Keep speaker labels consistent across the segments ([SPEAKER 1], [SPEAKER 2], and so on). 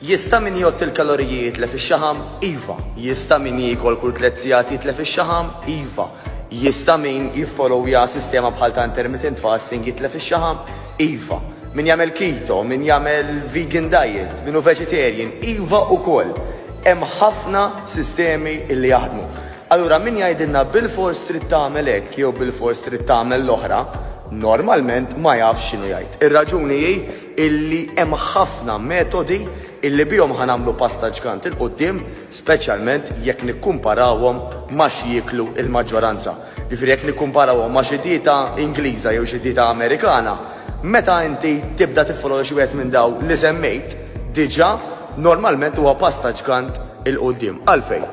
[SPEAKER 1] Jista' min jgħodd il-kaloriji jitlef ix-xaħam? Iva. Jista' min jiekol kull tliet sigħat jitlef ix-xaħam? Iva. Jista' min jiffolowja sistema bħal ta' intermittent fasting jitlef ix-xaħam? Iva. Min jagħmel keto, min jagħmel vegan diet, min hu vegetarian? Iva ukoll. Hemm ħafna sistemi li jaħdmu. Allura min jgħidilna bilfors trid tagħmel hekk jew bilfors trid tagħmel l-oħra, normalment ma jafx x'inhu jgħid. Ir-raġuni hi illi hemm ħafna metodi illi bihom ħa nagħmlu pass ta' ġgant 'il quddiem, speċjalment jekk nikkumparawhom ma' x'jieklu l-maġġoranza. Jiġifieri jekk nikkumparawhom ma' xi dieta Ingliża jew xi dieta Amerikana, meta inti tibda tiffollow lil xi wieħed minn dawn li semmejt diġà, normalment huwa pass ta' ġgant 'il quddiem. Għalfejn?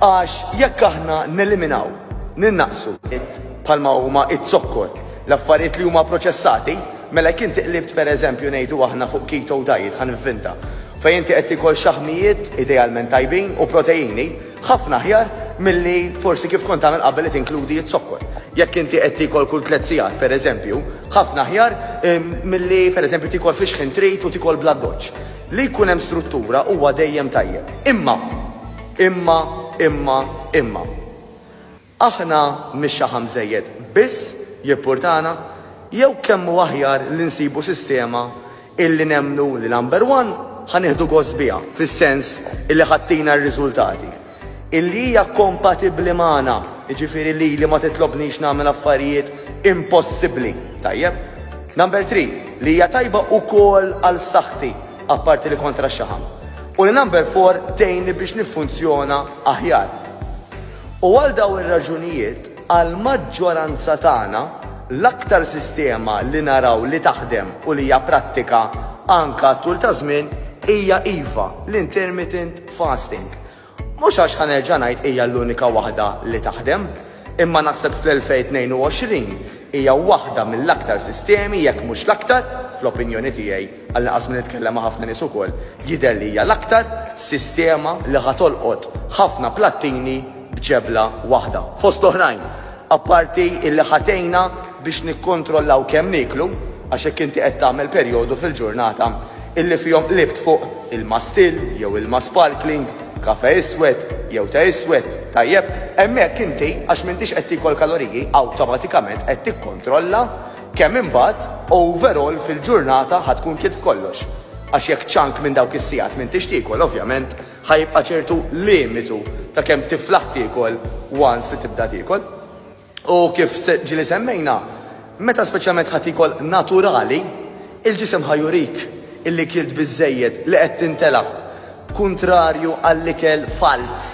[SPEAKER 1] Għax jekk aħna neliminaw, ninnaqqsu, bħalma huma z-zokkor, l-affarijiet li huma proċessati, Mela jekk inti qlibt pereżempju ngħidu aħna fuq keto diet, ħa nivvinta, fejn inti qed tiekol xaħmijiet idealment tajbin u proteini, ħafna aħjar milli forsi kif kont tagħmel qabel li tinkludi z-zokkor. Jekk inti qed tiekol kull tliet sigħat pereżempju, ħafna aħjar milli pereżempju tiekol fix-xħin trit u tiekol bl-addoċċ. Li jkun hemm struttura huwa dejjem tajjeb. Imma! Imma! Imma! Imma! Aħna mhix xi ħa mżejjed biss jippurtana jew kemm hu aħjar li nsibu sistema illi nemmnu li number one ħa nieħdu gost biha fis-sens illi ħa ttina r-riżultati, illi hija kompatibbli magħna, jiġifieri lili ma titlobnix nagħmel affarijiet impossibbli, tajjeb? Number three, li hija tajba ukoll għal saħħti, apparti li kontra x-xaħam, u li number four tgħinni biex niffunzjona aħjar. U għal dawn ir-raġunijiet, għall-maġġoranza tagħna, l-aktar sistema li naraw li taħdem u li hija prattika anke għat-tul ta' żmien hija iva l-intermittent fasting. Mhux għax ħa nerġa' ngħid hija l-unika waħda li taħdem, imma naħseb fl-2022 hija waħda mill-aktar sistemi, jekk mhux l-aktar, fl-opinjoni tiegħi, għall-inqas minn nitkellem ma' ħafna nies ukoll, jidher li hija l-aktar sistema li ħa tolqot ħafna plattini b'ġebla waħda. Fost l-oħrajn, apparti illi ħa tgħinna biex nikkontrollaw kemm nieklu, għax jekk inti qed tagħmel perjodu fil-ġurnata illi fihom qlibt fuq ilma still jew ilma sparkling, kafè iswed jew te iswed, tajjeb, hemmhekk inti, għax m'intix qed tiekol kaloriji, awtomatikament qed tikkontrolla Kemm imbagħad overall fil-ġurnata ħa tkun klitt kollox? Għax jekk chunk minn dawk is-sigħat m'intix tiekol ovvjament ħa jibqa' ċertu limitu ta' kemm tiflaħ tiekol once li tibda tiekol. U kif ġieli semmejna, meta speċjalment ħa tiekol naturali, il-ġisem ħa jurik illi kilt biżżejjed li qed tintela', kuntrarju għall-ikel falz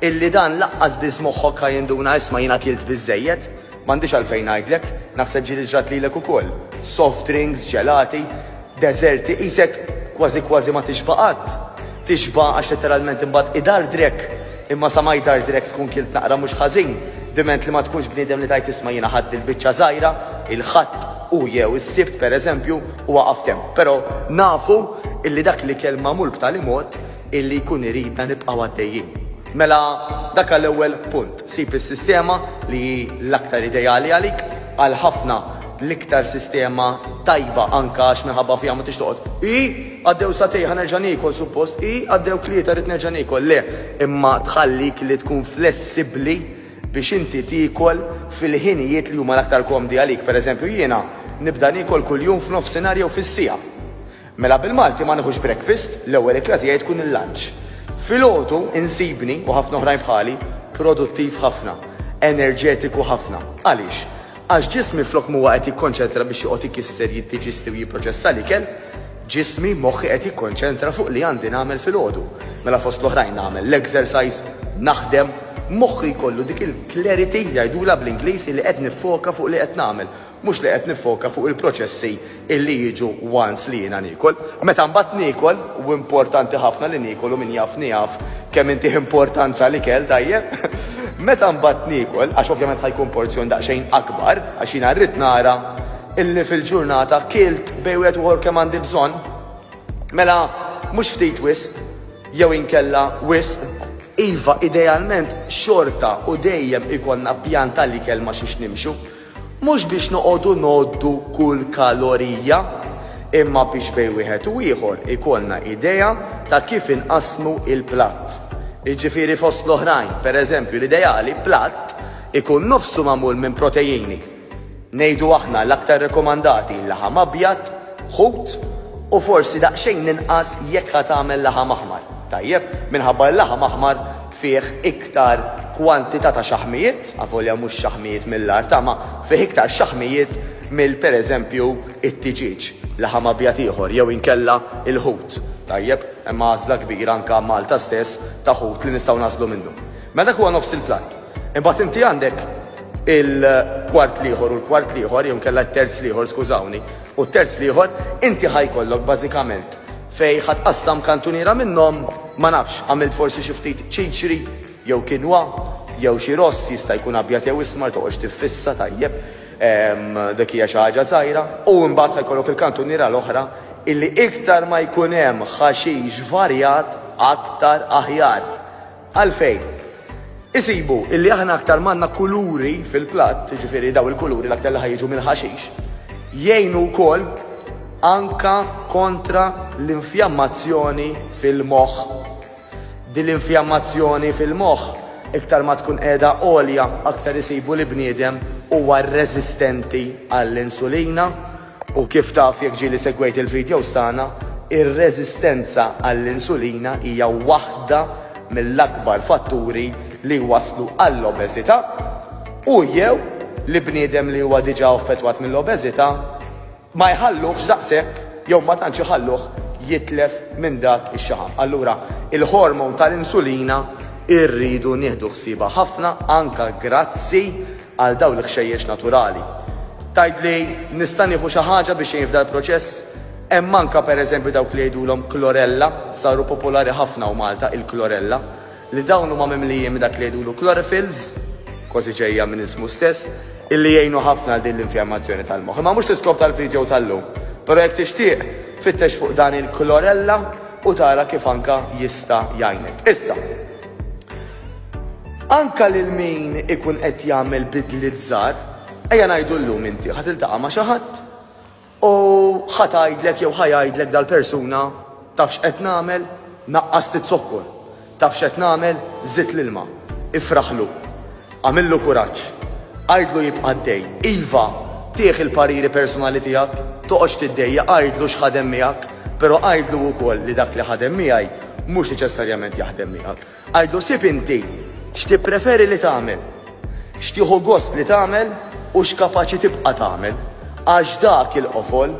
[SPEAKER 1] illi dan laqqas biss moħħok ħa jinduna isma' jiena kilt biżżejjed. M'għandix għalfejn ngħidlek, naħseb ġiet iġrat lilek ukoll. Soft drinks, ġelati, deżerti, qisek kważi kważi ma tixba' qatt. Tixba' għax letteralment imbagħad idardrek. Imma sa ma jdardrek tkun kilt naqra mhux ħażin, diment li ma tkunx bniedem li tgħid isma' jiena ħadt dil-biċċa żgħira, il-Ħadd u jew is-Sibt pereżempju, u waqaft hemm. Però nafu illi dak l-ikel magħmul b'tali mod illi jkun iridna nibqgħu għaddejjin. Mela dak għal ewwel punt. Sib is-sistema li hi l-aktar ideali għalik, għal ħafna l-iktar sistema tajba anke għax minħabba fiha ma tridx toqgħod, Ii, għaddew sagħtej ħa nerġa' niekol suppost, Ii, għaddew tlieta rrid nerġa' niekol, le, imma tħallik li tkun flessibbli biex inti tiekol fil-ħinijiet li huma l-aktar komdi għalik. Pereżempju jiena nibda niekol kuljum f'nofsinhar jew fis-siegħa. Mela bil-Malti ma nieħux breakfast, l-ewwel ikla tiegħi tkun il-lunch. Filgħodu insibni, u ħafna oħrajn bħali, produttiv ħafna, enerġetiku ħafna. Għaliex? Għax ġismi flok m'huwa qed jikkonċentra biex joqgħod ikisser, jiddiġisti u jipproċessa l-ikel, ġismi, moħħi qed jikkonċentra fuq li għandi nagħmel filgħodu. Mela fost l-oħrajn nagħmel l-exercise, naħdem, moħħi jkollu dik il-clarity, jgħidulha bl-Ingliż, li qed niffoka fuq li qed nagħmel. Mhux li qed niffoka fuq il-proċessi illi jiġu once li jiena niekol. Meta mbagħad niekol, u importanti ħafna li niekol u min jafni jaf kemm intih importanza l-ikel tajjeb, meta mbagħad niekol, għax ovvjament ħa jkun porzjon daqsxejn akbar, għax jiena rrid nara illi fil-ġurnata kilt bejn wieħed u ieħor kemm għandi bżonn, mela mhux ftit wisq jew inkella wisq. Iva, idealment xorta u dejjem ikollna pjan tal-ikel ma' xiex nimxu, Mhux biex noqogħdu ngħoddu kull kalorija, imma biex bejn wieħed u ieħor ikollna idea ta' kif inqassmu l-platt. Jiġifieri fost l-oħrajn, pereżempju l-ideali platt ikun nofsu magħmul minn proteini, ngħidu aħna l-aktar rekomandati laħam abjad, ħut u forsi daqsxejn inqas jekk ħa tagħmel laħam aħmar, tajjeb, minħabba l-laħam aħmar fih iktar kwantità ta' xaħmijiet, avolja mhux xaħmijiet mill-art, ma fih iktar xaħmijiet mill pereżempju t-tiġieġ, laħam abjad ieħor jew inkella l-ħut. Tajjeb, hemm għażla kbira anke Malta stess ta' ħut li nistgħu nagħżlu minnu. Mela dak huwa nofs il-platt. Imbagħad inti għandek il-kwart l-ieħor u l-kwart l-ieħor jew inkella t-terz l-ieħor, skużawni, u t-terz l-ieħor, inti ħa jkollok bażikament Fejn ħa tqassam kantuniera minnhom, ma nafx, għamilt forsi xi ftit ċiċri jew kinwa jew xi ross, jista' jkun abjad jew ismar, toqgħodx tiffissa, tajjeb, dik hija xi ħaġa żgħira, u imbagħad ħa jkollok il-kantuniera l-oħra illi iktar ma jkun hemm ħaxix varjat aktar aħjar. Għalfejn? Isibu illi aħna aktar ma għandna kuluri fil-platt, jiġifieri dawn il-kuluri l-aktar li ħa jiġu mill-ħaxix, jgħinu wkoll anke kontra l-infjammazzjoni fil-moħħ. Din l-infjammazzjoni fil-moħħ iktar ma tkun qiegħda għolja aktar isibu li bniedem huwa reżistenti għall-insulina U kif taf jekk ġieli segwejt il-videos tagħna, ir-reżistenza għall-insulina hija waħda mill-akbar fatturi li jwasslu għall-obeżità u, jew, li bniedem li huwa diġà affettwat mill-obeżità ma jħalluhx daqshekk jew ma tantx iħalluh jitlef minn dak ix-xaħam. Allura, il-hormone tal-insulina rridu nieħdu ħsiebha ħafna anke grazzi għal dawn l-ħxejjex naturali. Tgħid li nista' nieħu xi ħaġa biex ngħin f'dal-proċess? Hemm anke pereżempju dawk li jgħidulhom chlorella, saru popolari ħafna hawn Malta il-chlorella, li dawn huma mimlijin minn dak li jgħidulu chlorophylls, kważi ġejja minn ismu stess, illi jgħinu ħafna għal din l-infjammazzjoni tal-moħħ. Imma mhux l-iskop tal-video tal-lum, però jekk tixtieq, fittex fuq dan il-chlorella u tara kif anke jista' jgħinek. Issa. Anke lil min ikun qed jagħmel bidliet żgħar, ejja ngħidu llum inti ħa tiltaqa' ma' xi ħadd u ħa tgħidlek jew ħa jgħidlek dal-persuna taf x'qed nagħmel, naqqast iz-zokkor, taf x'qed nagħmel, żidt l-ilma. Ifraħlu. Agħmillu kuraġġ. Għidlu jibqa' għaddej. Iva, tih il-pariri personali tiegħek, toqgħodx tiddejjaq, għidlu x'ħadem miegħek, però għidlu wkoll li dak li ħadem miegħi mhux neċessarjament jaħdem miegħek. Għidu sib inti x'tippreferi li tagħmel, x'tieħu gost li tagħmel u x'kapaċi tibqa' tagħmel, għax dak il-qofol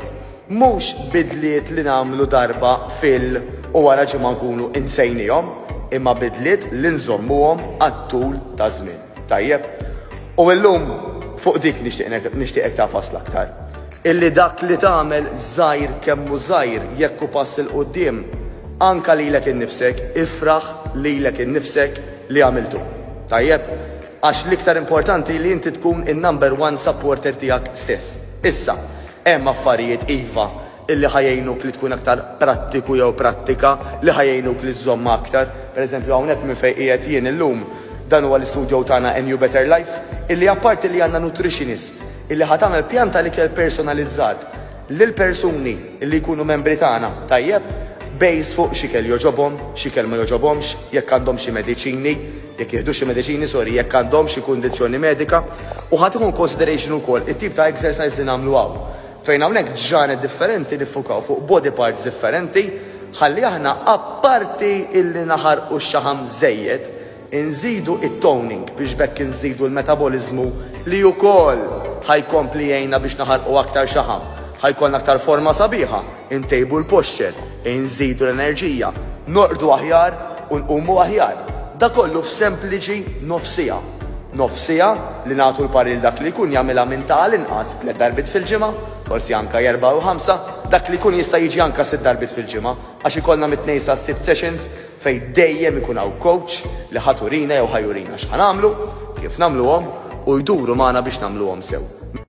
[SPEAKER 1] mhux bidliet li nagħmlu darba fil u wara ġimgħa nkunu insejniehom, imma bidliet li nżommuhom għat-tul taż-żmien. Tajjeb. U illum fuq dik nixtieq nixtieqek tagħfas l-aktar. Illi dak li tagħmel żgħir kemm hu żgħir jekk hu pass 'il quddiem, anke lilek innifsek, ifraħ lilek innifsek li għamiltu. Tajjeb? Għax l-iktar importanti li inti tkun in-number one supporter tiegħek stess. Issa, hemm affarijiet iva li ħa jgħinuk li tkun aktar prattiku jew prattika, li ħa jgħinuk li żżommha aktar. Per eżempju, hawnhekk minn fejn qiegħed jien illum, dan huwa l-istudio tagħna A New Better Life, illi apparti li għandna nutritionist illi ħa tagħmel pjan tal-ikel personalizzat lill-persuni illi jkunu membri tagħna, tajjeb, based fuq x'ikel jogħġobhom, x'ikel ma jogħġobhomx, jekk għandhom xi mediċini, jekk jieħdux xi mediċini, sorry, jekk għandhomx xi kundizzjoni medika, u ħa tieħu in consideration ukoll it-tip ta' exercise li nagħmlu hawn. Fejn hawnhekk ġranet differenti niffukaw fuq body parts differenti ħalli aħna apparti illi naħarqu x-xaħam żejjed inżidu it-toning biex b'hekk inżidu l-metaboliżmu li ukoll ħa jkompli jgħinna biex naħarqu aktar xaħam ħa jkollna aktar forma sabiħa, intejbu l-posture, inżidu l-enerġija, norqdu aħjar u nqumu aħjar. Dakollu f'sempliċi nofsiegħa. nofs siegħa, li nagħtu l-parir dak li jkun jagħmilha minn ta' għal inqas tliet darbiet fil-ġimgħa, forsi anke erbgħa jew ħamsa, dak li jkun jista' jiġi anke sitt darbiet fil-ġimgħa, għax ikollna mit-tnejn sas-sibt sessions fejn dejjem ikun hawn coach li ħa turina jew ħa jurina x'ħa nagħmlu, kif nagħmluhom u jduru magħna biex nagħmluhom sew.